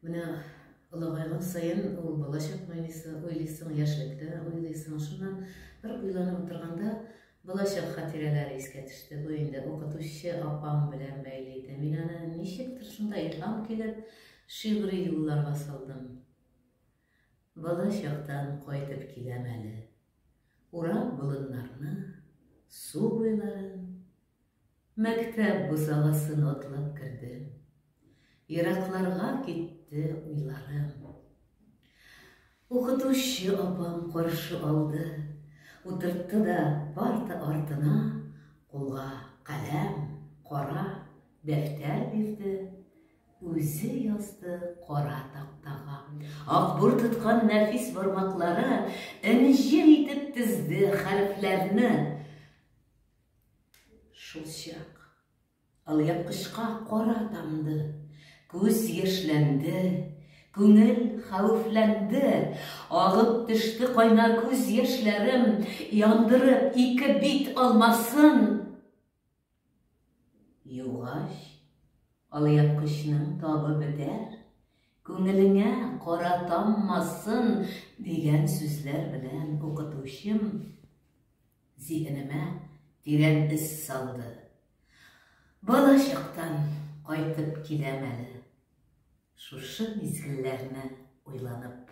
Менә олыгайган сайын ул балачак уйлыйсың, яшьлектә уйлыйсың. Шуннан бер уйланып утырганда балачак хатирәләре искә төште. Бу инде укытучы апам белән бәйле иде. Мин аны ничектер шунда илһам килеп шигъри юлларга салдым. Балачактан кайтып киләм әле. Урап болыннарны, су буйларын, Мәктәп бусагасын атлап кердем. Еракларга китте уйларым. Укытучы апам каршы алды, утыртты да парта артына, кулга каләм, кара дәфтәр бирде, үзе язды кара тактага. Акбур тоткан нәфис бармаклары энҗе итеп тезде хәрефләрне. Шулчак алъяпкычка кара тамды, күз яшьләнде, күңел хәвефләнде, агып төште кайна күз яшьләрем, яндырып ике бит алмасын. Югач, алъяпкычның табы бетәр, күңелеңә кара таммасын дигән сүзләр белән укытучым Зиһенемә тирән эз салды. Бала чактан кайтып киләм әле. Шушы мизгелләрне уйланып.